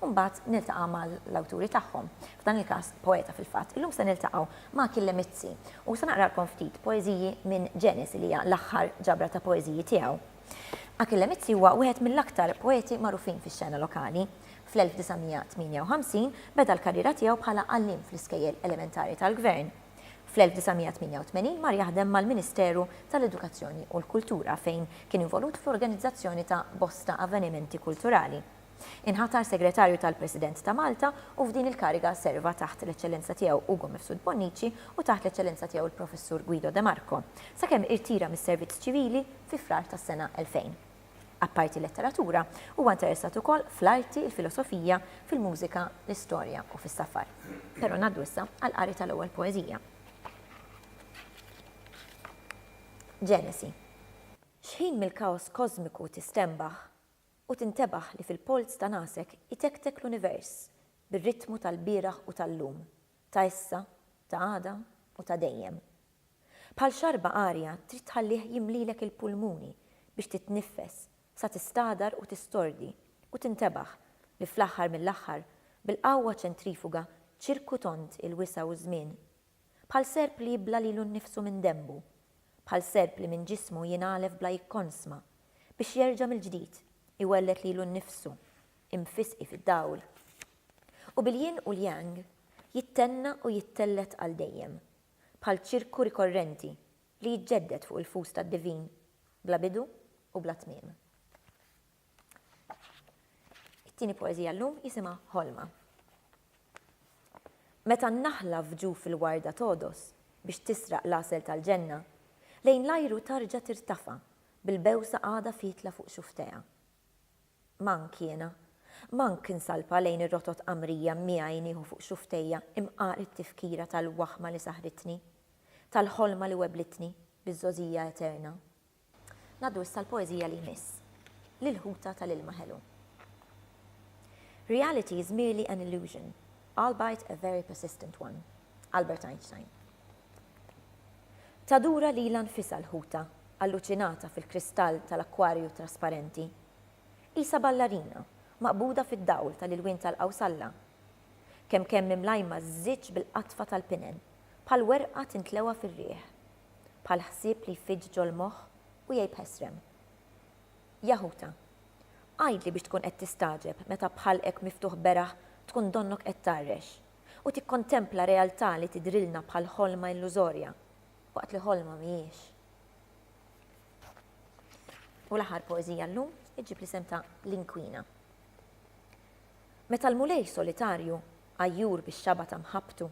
u mbagħad niltaqa' mal-awturi tagħhom, f'dan il-każ poeta fil-fatt. Illum se niltaqgħu ma' Achille Mizzi u se naqralkom ftit poeżiji minn Genes li hija l-aħħar ġabra ta' poeżiji tiegħu. Achille Mizzi huwa wieħed mill-aktar poeti magħrufin fix-xena lokali. Fl-1958 beda l-karriera tiegħu bħala għalliem fl-iskejjel elementari tal-Gvern. Fl-1988 mar jaħdem mal-Ministeru tal-Edukazzjoni u l-Kultura fejn kien involut fl-organizzazzjoni ta' bosta avvenimenti kulturali. Inħatar Segretarju tal-President ta' Malta u f'din il-kariga serva taħt l-Eċċellenza Tiegħu Ugo Mifsud Bonnici u taħt l-Eċċellenza Tiegħu l-Professur Guido de Marco, sakemm irtira mis-servizz ċivili fi Frar tas-sena 2000. Apparti l-letteratura, huwa interessat ukoll fl-arti, il-filosofija, fil-mużika, l-istorja u fis-safar. Però ngħaddu issa għall-qari tal-ewwel poeżija. Ġenesi. X'ħin mill-kaos kożmiku tistenbaħ, U tintebaħ li fil-polz ta' nagħsek itektek l-univers bir-ritmu tal-bieraħ u tal-lum, ta' issa, ta' għada u ta' dejjem. Bħal xarba arja trid tħallih jimlilek il-pulmuni biex titniffes sa tistagħdar u tistordi u tintebaħ li fl-aħħar mill-aħħar bil-qawwa ċentrifuga ċirku tond il-wisa' u ż-żmien. Bħal serp li jibla' lilu nnifsu minn denbu Bħal serp li minn ġismu jingħalef bla jikkonsma, biex jerġa' mill-ġdid iwelled lilu nnifsu, imfisqi fid-dawl. U bil-yin u l-yang jittenna u jittellgħet għal dejjem, bħal ċirku rikorrenti li jiġġedded fuq il-fus tad-divin, bla bidu u bla tmiem. It-tieni poeżija llum jisimha Ħolma. Meta n-naħla f'ġuf il-warda togħdos biex tisraq l-għasel tal-ġenna, lejn l-ajru tarġa' tirtafa' bil-bewsa għadha fietla fuq xufftejha. M'hawn kiena. M'hawn kien salpa lejn ir-rotot qamrija miegħi nieħu fuq xufftejja imqar it-tifkira tal-waħma li saħritni, tal-ħolma li weblitni biż-żgħożija eterna. Ngħaddu issa l-poeżija li jmiss, L-ilħuta tal-ilma ħelu. Reality is merely an illusion, albeit a very persistent one. Albert Einstein. Tadura lilha nfisha l-ħuta, alluċinata fil-kristall tal-akkwarju trasparenti. Qisha ballarina, maqbuda fid-dawl tal-ilwien tal-qawsalla. Kemm kemm imlajma żżiġġ bil-qatfa tal-pinen, bħal werqa tintlewa fir-riħ. bħal ħsieb li jfiġġ ġol-moħħ u jgħib ħesrem. Jaħuta. Għidli biex tkun qed tistagħġeb meta b'ħalqek miftuħ beraħ tkun donnok qed tgħarrex u tikkontempla realtà li tidhrilna bħal ħolma illużorja, waqt li ħolma mhijiex. U l-aħħar poeżija llum iġġib l-isem ta' l-inkwina. Meta l-Mulej solitarju, għajjur bix-xaba ta' mħabbtu,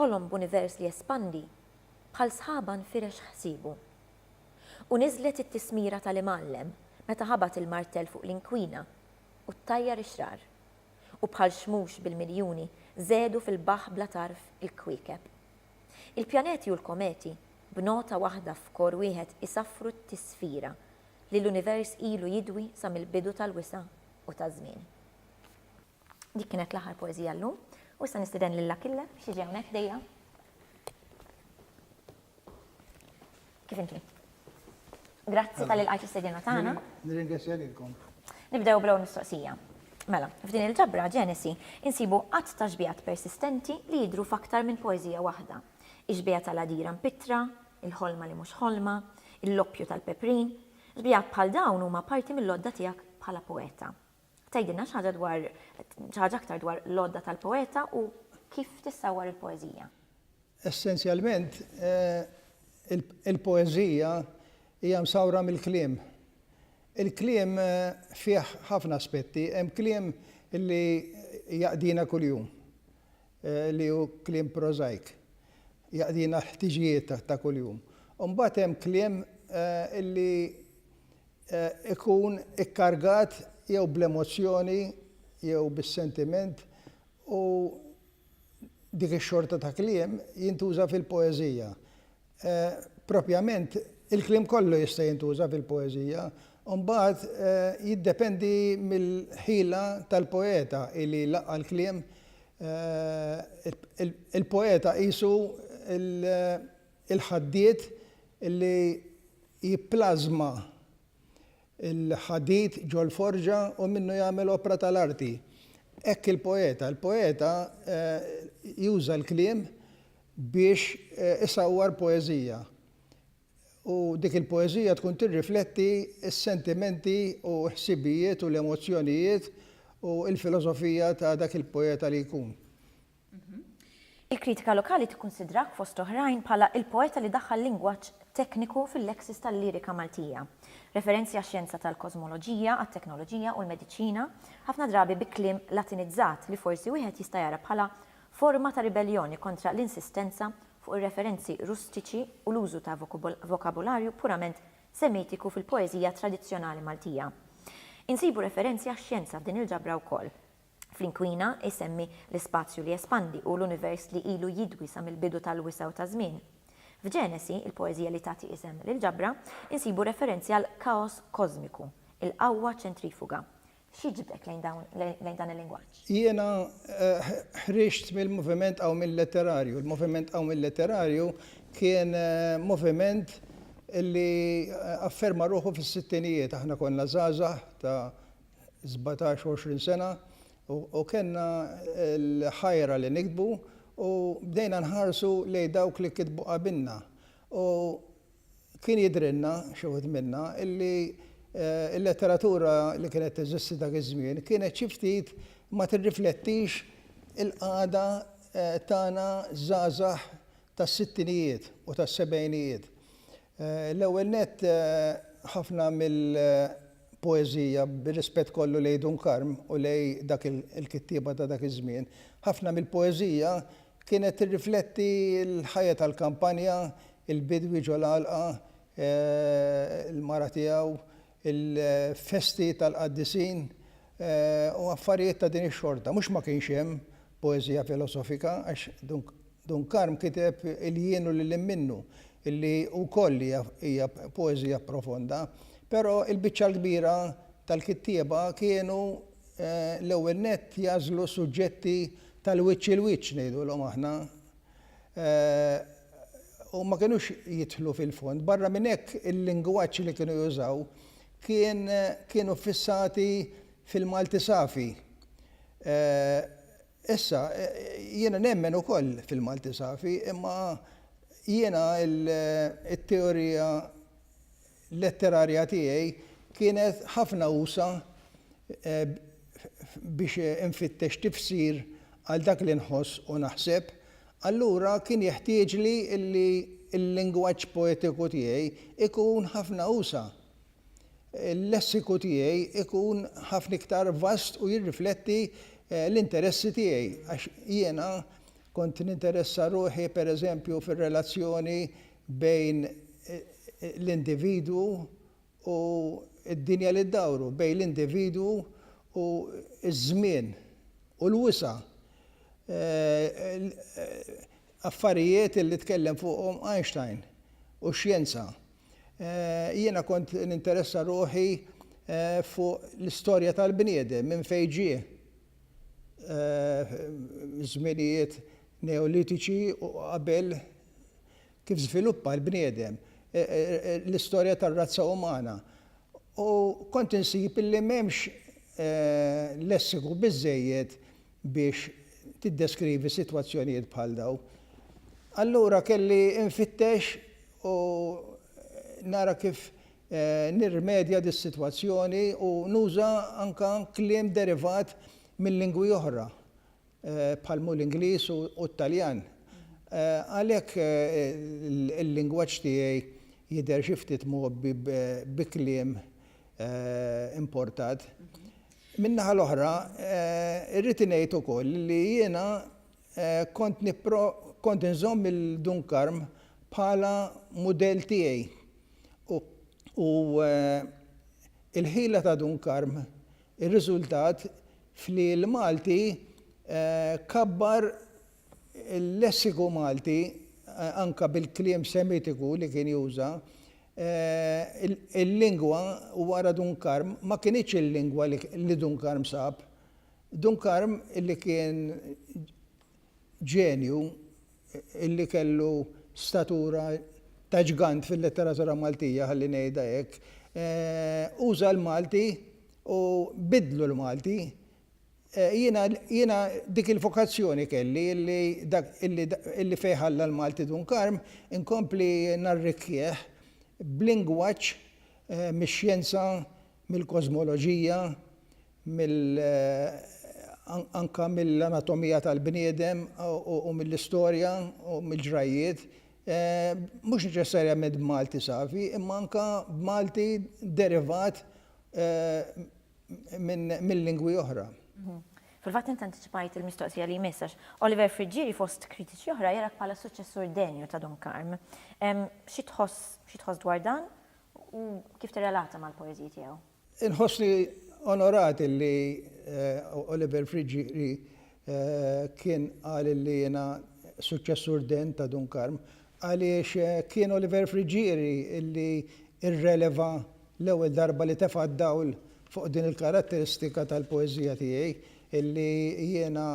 ħolom b'univers li jespandi Bħal sħaba nfirex ħsiebu. U niżlet it-tismira tal-Imgħallem meta ħabat il-martell fuq l-inkwina u ttajjar ix-xrar. U bħal xmux bil-miljuni żedu fil-baħħ bla tarf il-kwiekeb. Il-pjaneti u l-kometi b'nota waħda f'kor wieħed isaffru t-tisfira li l-univers ilu jidwi sa mill-bidu tal-wisa' u taż-żmien. Dik kienet l-aħħar poeżija llum u issa nistiden lil Akille biex jiġi hawnhekk dejja. Kif inti? Grazzi tal ilqajt istedina tagħna. Nirringrazzja lilkom. Nibdew bl-ewwel mistoqsija. Mela, f'din il-ġabra Ġenesi insibu qatt ta' xbijat persistenti li jidru f'aktar minn poeżija waħda. Ix-xbija tal-għadira mpittra, il-ħolma li mhux ħolma, il-loppju tal-peprin. Xbijat bħal dawn huma parti mill-għodda tiegħek bħala poeta. Tgħidilna xi ħaġa dwar xi ħaġa aktar dwar l-għodda tal-poeta u kif tissawwar il-poeżija? Essenzjalment, il-poeżija hija msawwra mill-kliem. Il-kliem fih ħafna aspetti, hemm kliem li jaqdina kuljum, li hu kliem prożajk, jaqdina l-ħtiġijiet ta' kuljum. U mbagħad hemm kliem li ikun ikkargat jew bl-emozzjoni jew bis-sentiment u dik ix-xorta ta' kliem jintuża fil-poeżija. Propjament, il-kliem kollu jista' jintuża fil-poeżija u mbagħad jiddependi mill-ħila tal-poeta li jlaqqa' l-kliem, il-poeta qisu l-, il-ħaddied li jipplażma l-ħadid ġol-forġa u minnu jagħmel opra tal-arti. Hekk il-poeta. Il-poeta juża l-kliem biex isawwar poeżija. U dik il-poeżija tkun tirrifletti s-sentimenti u l-ħsibijiet u l-emozzjonijiet u l-filosofija ta' dak il-poeta li jkun. Il-kritika lokali tikkunsidrak, fost oħrajn, bħala il-poeta li daħħal lingwaġġ tekniku fil-leksis tal-lirika Maltija. Referenzi għax-xjenza tal-kożmoloġija, għat-teknoloġija u l-mediċina, ħafna drabi bi kliem Latinizzat li forsi wieħed jista' jara bħala forma ta' ribelljoni kontra l-insistenza fuq ir-referenzi rustiċi u l-użu ta' vokabularju purament semitiku fil-poeżija tradizzjonali Maltija. Insibu referenzi għax-xjenza f'din il-ġabra wkoll. Fl-inkwina, isemmi l-ispazju li jespandi u l-univers li ilu jidwi sa mill-bidu tal-wisa' u taż-żmien. F'Ġenesi, il-poeżija li tagħti isem lill-ġabra, insibu referenzi għal kaos kożmiku, il-qawwa ċentrifuga. X'jiġbdek lejn dawn lejn dan il-lingwaġġ? Jiena ħriġt mill-moviment qawmien letterarju. Il-moviment qawmien letterarju kien moviment li afferma ruħu fis-sittinijiet. Aħna konna żgħażagħ ta' sbatax u għoxrin sena u kellna l-ħajra li niktbu u bdejna nħarsu lejn dawk li kitbu qabilna u kien jidhrilna, xi wħud minna, illi l-letteratura li kienet teżisti dak iż-żmien kienet xi ftit ma tirriflettix il-qagħda tagħna żgħażagħ tas-sittinijiet u tas-sebgħinijiet. L-ewwel nett, ħafna mill-poeżija, bir-rispett kollu lejn Dun Karm u lejn dak il-kittieba ta' dak iż-żmien, ħafna mill-poeżija kienet tirrifletti l-ħajja tal-kampanja, il-bidwi ġol-għalqa, il-mara tiegħu, il-festi tal-qaddisin u affarijiet ta' din ix-xorta. Mhux ma kienx hemm poeżija filosofika għax Dun Karm kiteb Il-jien u lil hinn minnu li wkoll hija poeżija profonda, però l-biċċa l-kbira tal-kittieba kienu l-ewwel nett jagħżlu suġġetti tal-wiċċ il-wiċċ ngħidulhom aħna, u ma kinux jidħlu fil-fond. Barra minn hekk, il-lingwaġġ li kienu jużaw kien kienu ffissati fil-Malti safi. Issa, jiena nemmen ukoll fil-Malti safi, imma jiena t-teorija letterarja tiegħi kienet ħafna usa' biex infittex tifsir għal dak li nħoss u naħseb, allura kien jeħtieġli li l-lingwaġġ poetiku tiegħi jkun ħafna usa', il-lessiku tiegħi jkun ħafna iktar vast u jirrifletti l-interessi tiegħi, għax jiena kont ninteressa ruħi, pereżempju, fir-relazzjoni bejn l-individwu u d-dinja li ddawru, bejn l-individwu u ż-żmien u l-wisa', affarijiet li tkellem fuqhom Einstein u x-xjenza. Jiena kont ninteressa ruħi fuq l-istorja tal-bniedem, minn fejn ġie, żminijiet Neolitiċi u qabel kif żviluppa l-bniedem, l-istorja tar-razza umana, u kont insib illi m'hemmx lessiku biżżejjed biex tiddeskrivi sitwazzjonijiet bħal dawn. Allura kelli nfittex u nara kif nirrimedja dis-sitwazzjoni u nuża anke kliem derivat minn lingwi oħra. bħal mhu l-Ingliż u t-Taljan. Għalhekk il-lingwaġġ tiegħi jidher xi ftit mgħobbi bi kliem importat. Min-naħa l-oħra, irrid ngħid ukoll li jiena kont kont inżomm il-Dun Karm bħala mudell tiegħi u l-ħila ta' Dun Karm Ir-riżultat f'li l-Malti kabbar il-lessiku Malti anka bil-kliem Semitiku li kien juża, il-lingwa wara Dun Karm ma kinitx il-lingwa li Dun Karm sab. Dun Karm li kien ġenju li kellu statura ta' ġgant fil-letteratura Maltija, ħalli ngħidha hekk, uża l-Malti u biddlu l-Malti. Jiena jiena dik il-vokazzjoni kelli illi dak illi illi fejn ħalla l-Malti Dun Karm inkompli narrikkieh b'lingwaġġ mix-xjenza, mill-kożmoloġija, mill anka mill-anatomija tal-bniedem u mill-istorja u mill-ġrajjiet, mhux neċessarjament b'Malti safi, imma anka b'Malti derivat minn lingwi oħra. Fil-fatt int antiċipajt il-mistoqsija li jmiss għax Oliver Friggieri fost kritiċi oħra jarak bħala s-suċċessur denju ta' Dun Karm. Xi tħoss xi tħoss dwar dan u kif tirrelata mal-poeżiji tiegħu? Inħossni onorat illi Oliver Friggieri kien qal illi jiena suċċessur degn ta' Dun Karm għaliex kien Oliver Friggieri illi rreleva l-ewwel darba li tefa' d-dawl fuq din il-karatteristika tal-poeżija tiegħi illi jiena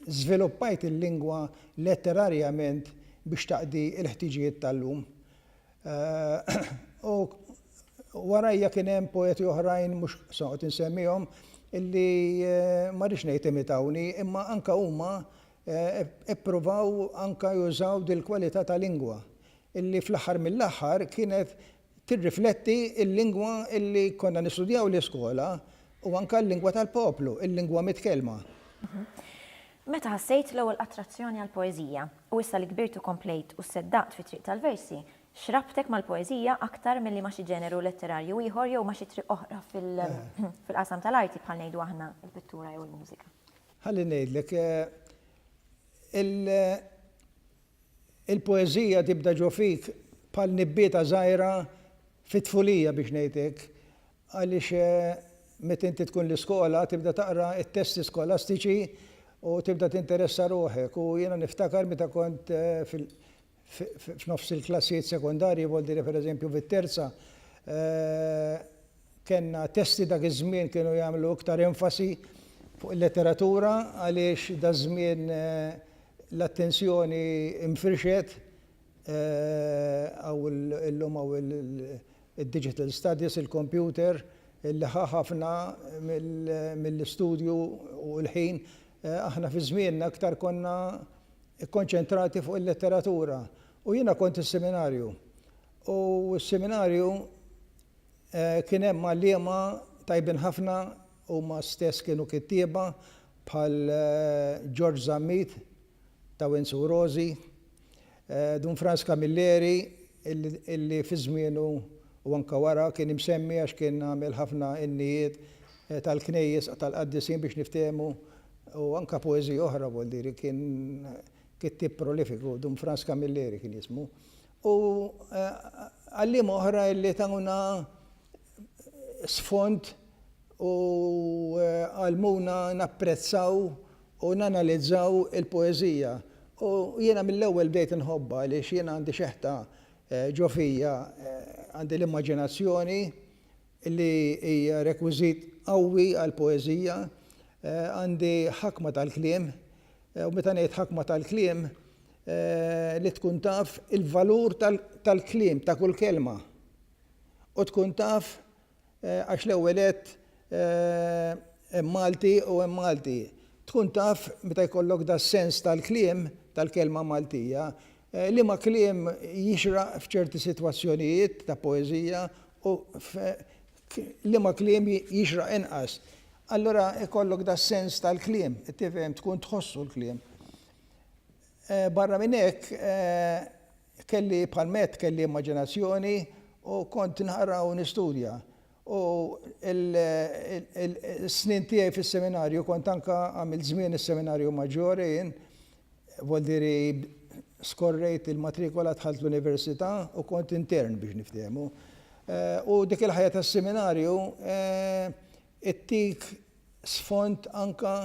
żviluppajt il-lingwa letterarjament biex taqdi l-ħtiġijiet tal-lum. U warajja kien hemm poeti oħrajn, mhux se noqgħod insemmihom, illi ma rridx ngħid imitawni, imma anke huma ippruvaw anke jużaw dil-kwalità ta' lingwa, illi fl-aħħar mill-aħħar kienet tirrifletti l-lingwa illi konna nistudjaw l-iskola u anke l-lingwa tal-poplu, il-lingwa mitkellma. Meta ħassejt l-ewwel attrazzjoni għall-poeżija, u issa li kbirt u komplejt u sseddaqt fit-triq tal-versi, x'rabtek mal-poeżija aktar milli ma' xi ġeneru letterarju ieħor jew ma' xi triq oħra fil-qasam tal-arti bħal ngħidu aħna l-pittura jew il-mużika? Ħalli ngħidlek, il-poeżija tibda ġo fik bħal nibbieta żgħira fit-tfulija biex ngħid hekk, Għaliex meta inti tkun l-iskola tibda taqra t-testi skolastiċi u tibda tinteressa ruħek u jiena niftakar meta kont f'nofs il-klassijiet sekondarji b'għod dire per eżempju fit-terza kellna testi dak iż-żmien kienu jagħmlu iktar enfasi fuq il-letteratura għaliex daż-żmien l-attenzjoni nfirxet Hawn illum hawn il-digital studies, il-kompjuter, li ħa ħafna mill-istudju u l-ħin. Aħna fi żmienna iktar konna kkonċentrati fuq il-letteratura. U jiena kont is-seminarju. U s-seminarju kien hemm għalliema tajbin ħafna, huma stess kienu kittieba bħal George Zammit, ta' Windsor Rosi, Dun Frans Camilleri illi fi żmienu u anke wara kien imsemmi għax kien għamel ħafna innijiet tal-knejjes tal-qaddisin biex niftehmu u anke poeżija oħra vuol dire kien kittieb prolifiku Dun Frans Camilleri kien jismu u għalliema oħra illi tawna sfond u għallmuna napprezzaw u nanalizzaw il-poeżija u jiena mill-ewwel bdejt inħobbha għaliex jiena għandi xeħta ġo fija, għandi l-immaġinazzjoni li hija rekwiżit qawwi għall-poeżija, għandi ħakma tal-kliem u meta ngħid ħakma tal-kliem li tkun taf il-valur tal-kliem ta' kull kelma u tkun taf għax l-ewwel nett hemm Malti u hemm Malti. Tkun taf meta jkollok das-sens tal-kliem, tal-kelma Maltija, liema kliem jixraq f'ċerti sitwazzjonijiet ta' poeżija u liema kliem jixraq inqas. Allura jkollok das-sens tal-kliem, tifhem, tkun tħossu l-kliem. Barra minn hekk, Kelli bħal Matt kelli immaġinazzjoni u kont nħarra u nistudja. U s-snin tiegħi fis-seminarju kont anke għamilt żmien is-seminarju maġġore jien, vuldiri skorrejt il-matrikola dħalt l-università u kont intern biex niftehmu. U dik il-ħajja tas-seminarju ttik sfond anke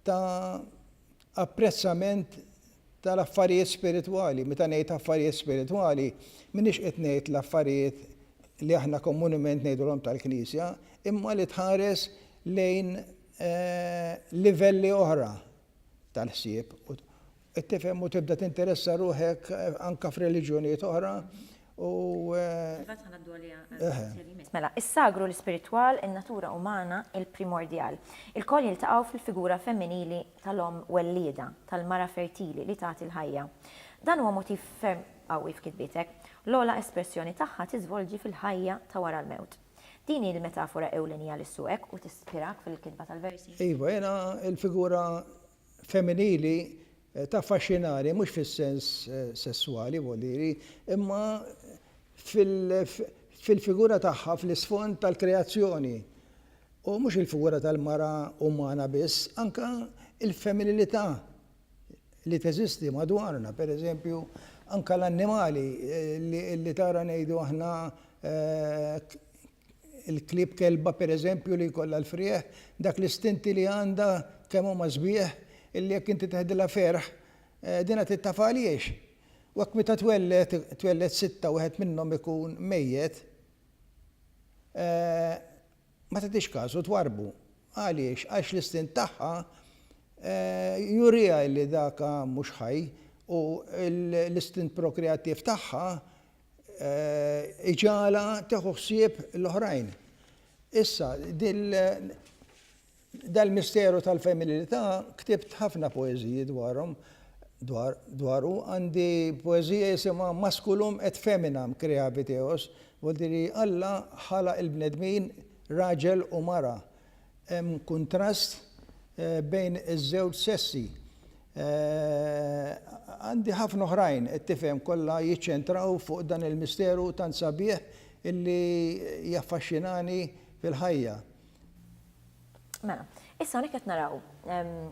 ta' apprezzament tal-affarijiet spiritwali. Meta ngħid affarijiet spiritwali, m'iniex qed ngħid l-affarijiet li aħna komunement ngħidulhom tal-Knisja, imma li tħares lejn livelli oħra tal-ħsieb, tifhem u tibda tinteressa ruħek anke f'reliġjonijiet oħra, Imbagħad ħa ngħaddu għaliha għall-mistoqsija li jmiss. Mela, is-sagru, l-ispiritwal, in-natura umana, il-primordjal, ilkoll jiltaqgħu fil-figura femminili tal-omm wellieda, tal-mara fertili li tagħti l-ħajja. Dan huwa motiv ferm qawwi f'kitbietek. L-ogħla espressjoni tagħha tiżvolġi fil-ħajja ta' wara l-mewt. Din hi l-metafora ewlenija li ssuqek u tispirak fil-kitba tal-versi? Iva, jiena l-figura femminili Taffaxxinani, mhux fis-sens sesswali, voliri, imma fil-figura tagħha fl-isfond tal-kreazzjoni. U mhux il-figura tal-mara umana biss, anke l-femminilità li teżisti madwarna, per eżempju, anke l-annimali li tara ngħidu aħna il-klieb kelba pereżempju li jkollha l-frieħ, dak l-istinti li għandha kemm huma sbieħ illi jekk inti teħdilha ferħ dinha trid tafha għaliex. U hekk meta twelled, twelled sitta wieħed minnhom ikun mejjet, ma tagħtix kasu twarrbu. Għaliex? Għax l-istint tagħha juriha illi daka mhux ħaj u l-istint prokreattiv tagħha iġagħalha tieħu ħsieb l-oħrajn. Issa, dal-misteru tal-femminilità ktibt ħafna poeżiji dwarhom, dwaru, għandi poeżija jisimha Masculum et Feminam Creavit Eos, voltiri Alla ħalaq il-bnedmin raġel u mara. Hemm kuntrast bejn iż-żewġ sessi. Għandi ħafna oħrajn, qed tifhem, kollha jiċċentraw fuq dan il-misteru tant sabiħ illi jaffaxxinani fil-ħajja. Mela, issa hawnhekk qed naraw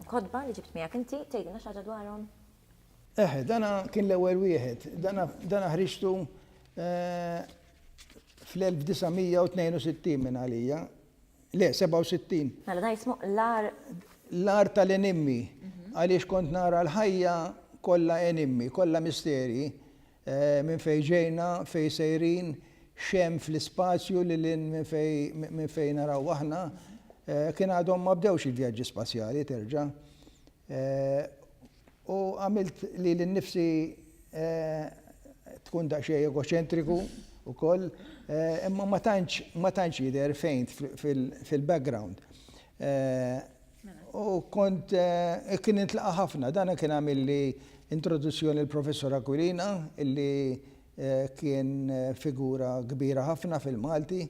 kotba li ġibt miegħek inti, tgħidilna xi ħaġa dwarhom? Eħe, dan kien l-ewwel wieħed. Dan ħriġtu fl-1962 minn għalija, Le, 67. Mela dan jismu l-agħar. L-agħar tal-enimmi, għaliex kont nara l-ħajja kollha enimmi, kollha misterji, minn fejn ġejna, fejn sejrin, x'hemm fl-ispazju lil hinn minn fejn naraw aħna. Kien għadhom ma bdewx il-vjaġġi spazjali terġa'. U għamilt lili nnifsi tkun daqsxejn egoċentriku wkoll, imma ma tantx ma tantx jidher fejn fil-background. U kont kien nintlaqa' ħafna, dan kien għamilli introduzzjoni l-Professor Aquilina illi kien figura kbira ħafna fil-Malti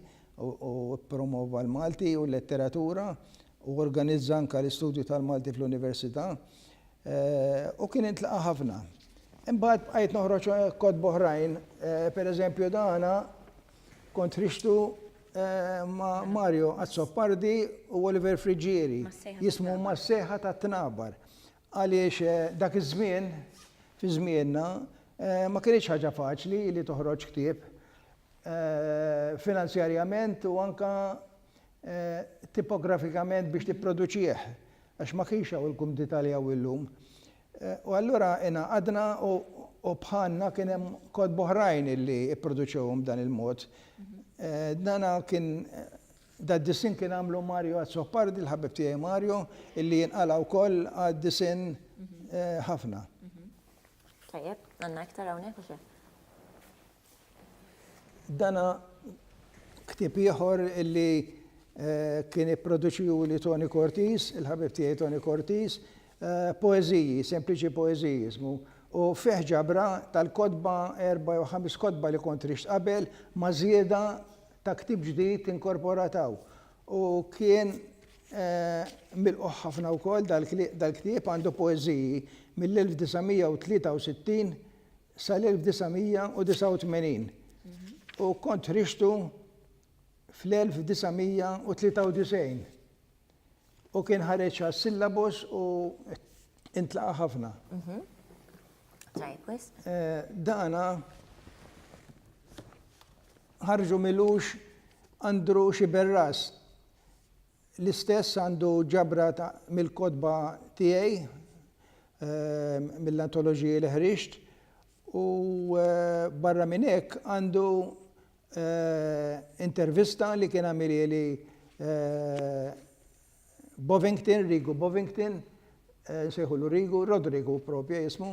u ppromova l-Malti u l-letteratura. Hu organizza anke l-istudju tal-Malti fl-Università u kien intlaqa' ħafna. Imbagħad bqajt noħroġ kotba oħrajn, per eżempju dan kont ħriġtu ma' Mario Azzopardi u Oliver Friggieri, jismu Mas-Sejħa tat-Tnabar. Għaliex dak iż-żmien, fi żmienna, ma kinitx ħaġa faċli li toħroġ ktieb. finanzjarjament u anke tipografikament biex tipproduċih, għax ma kienx hawn il-kumdità li hawn illum. U allura ingħaqadna u bħalna kien hemm kotba oħrajn li pproduċewhom b'dan il-mod. Dan kien dad-disinn kien għamlu Mario Azzopardi, l-ħabib tiegħi Mario, illi jinqala' wkoll għad-disinn ħafna. Tajjeb, għandna iktar hawnhekk u xi? Dan hu ktieb ieħor li kien ipproduċiehuli Toni Cortis, il-ħabib tiegħi Toni Cortis, poeżiji, sempliċi poeżiji jismu, u fih ġabra tal-kotba, erba' jew ħames kotba li kont rixt qabel, ma' żieda ta' ktieb ġdid inkorporat hawn. U kien milqugħ ħafna wkoll dal-ktieb, għandu poeżiji mill-1963 sal-1989 u kont ħriġtu fl-1993 u kien ħareġ għas-syllabus u intlaqa' ħafna. Eh, dana ħarġu milux Andrew Xiberras L-istess għandu ġabra mill-kotba tiegħi, mill-antoloġiji li ħriġt, u barra minn hekk għandu intervista li kien għamilieli Bovington, Rigu Bovington, nsejħulu Rigu, Rodrigu propju jismu,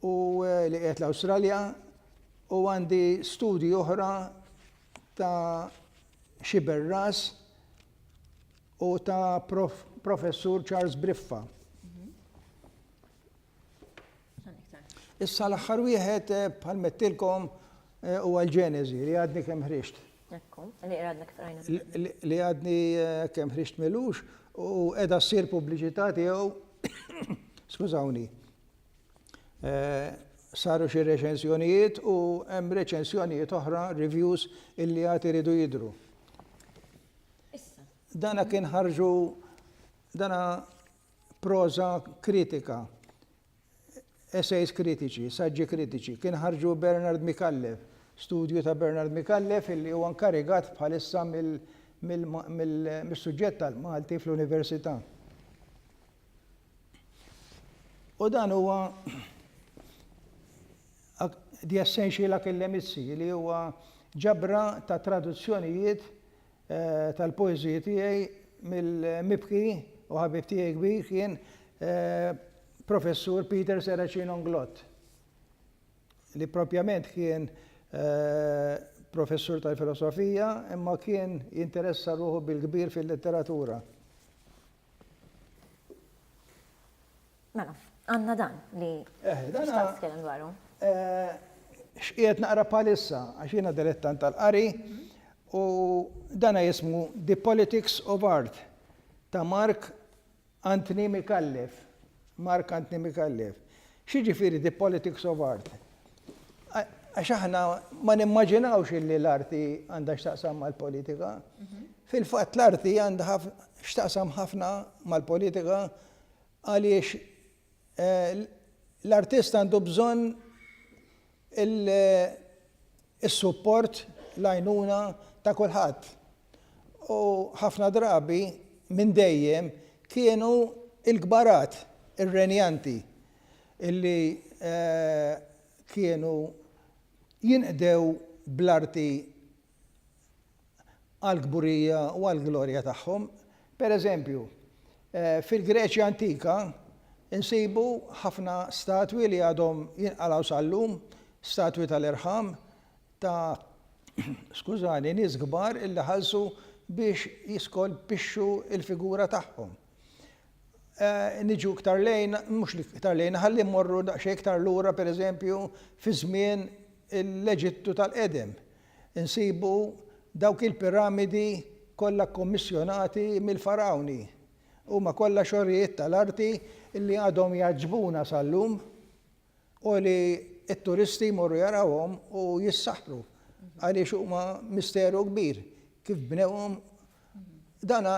u li qiegħed l-Awstralja, u għandi studji oħra, ta' Xiber Ras u ta' Prof. Professur Charles Briffa. Issa l-aħħar wieħed eh, bħal mettilkom eh, u għal-ġenezi li għadni kem ħriġt. Li għadni eh, kem ħriġt melux u edha s-sir publiċità tiegħu, skużawni, Saru xi reċensjonijiet u hemm reċensjonijiet oħra, reviews, illi għad iridu jidhru. Dana kien ħarġu dana proża kritika, essays kritiċi, saġġi kritiċi, kien ħarġu Bernard Micallef, studju ta' Bernard Micallef illi huwa nkarigat bħalissa mill-suġġett tal-Malti fl-Università. U dan huwa The Essential Akillemitsi li huwa ġabra ta' traduzzjonijiet eh, tal-poeżiji tiegħi mill-mibki u ħabib tiegħi kbir kien eh, professur Peter Seracin Onglot li propjament kien eh, professur tal-filosofija imma kien jinteressa ruħu bil-kbir fil-letteratura. Mela, għandna dan li eh, xtaqt tkellem dwaru. Eh, x'qiegħed naqra palissa għax jiena dilettant tal-qari u dana jismu The Politics of Art ta' Mark Anthony Mikallef. Mark Anthony Micallef, X'jiġifieri the politics of art? Għax aħna ma nimmaġinawx illi l-arti għandha x'taqsam mal-politika. Fil-fatt l-arti għandha x'taqsam ħafna mal-politika għaliex l-artist għandu bżonn il- is-support, l-għajnuna ta' kulħadd. U ħafna drabi, minn dejjem, kienu l-kbarat, ir-renjanti, li kienu jinqdew bl-arti għall-kburija u għall-glorja tagħhom. Pereżempju, fil-Greċja antika nsibu ħafna statwi li għadhom jinqalgħu sal-lum, statwi tal-irħam ta' skużani, nies kbar li ħallsu biex jiskolpixxu l-figura tagħhom. Niġu iktar lejn, mhux iktar lejn, ħalli mmorru daqsxejn iktar lura pereżempju fiż-żmien l-Eġittu tal-qedem. Insibu dawk il-piramidi kollha kkommissjonati mill-Fargħuni. Huma kollha xogħlijiet tal-arti li għadhom jgħaġġbuna sal-lum u li t-turisti jmorru jarawhom u jissaħħru għaliex huma misteru kbir kif bnewhom dan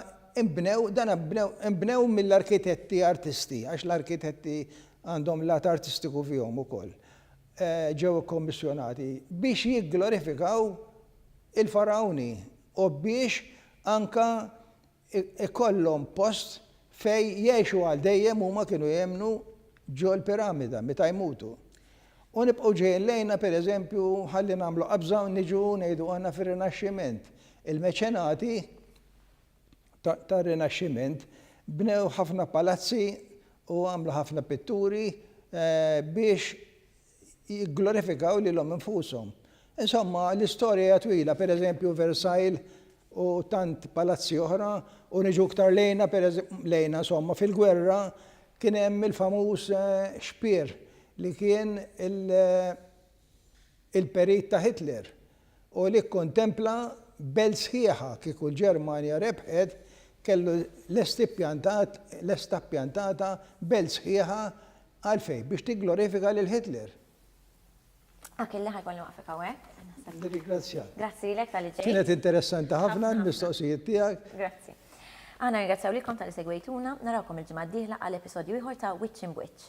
inbnew dan inbnew inbnew mill-arkitetti artisti għax l-arkitetti għandhom lat artistiku fihom ukoll. ġew ikkommissjonati biex jigglorifikaw il-Fargħuni u biex anke jkollhom post fejn jgħixu għal dejjem huma kienu jemmnu ġol-piramida meta jmutu. U nibqgħu ġejjin lejna pereżempju ħalli nagħmlu qabża u niġu ngħidu aħna fir-Rinaxximent il-meċenati tar-Rinaxximent, bnew ħafna palazzi u għamlu ħafna pitturi biex jigglorifikaw lilhom infushom. Insomma, l-istorja hija twila, per eżempju Versailles u tant palazzi oħra, u niġu iktar lejna, lejna insomma, fil-gwerra kien hemm il-famuż xpier li kien il, il-perit ta' Hitler u li kkontempla belt sħiħa kieku l-Ġermanja rebħet kellu lest ippjantat lesta ppjantata belt sħiħa għalfejn? Biex tigglorifika lil Hitler. Achille ħa jkolli nwaqfek hawnhekk. Nirringrazzjak. Grazzi lilek talli ġejt. Kienet interessanti ħafna l-mistoqsijiet tiegħek. Grazzi. Aħna nirringrazzjaw lilkom talli segwejtuna, narawkom il-ġimgħa d-dieħla għal episodju ieħor ta' Wiċċ Imb'Wiċċ.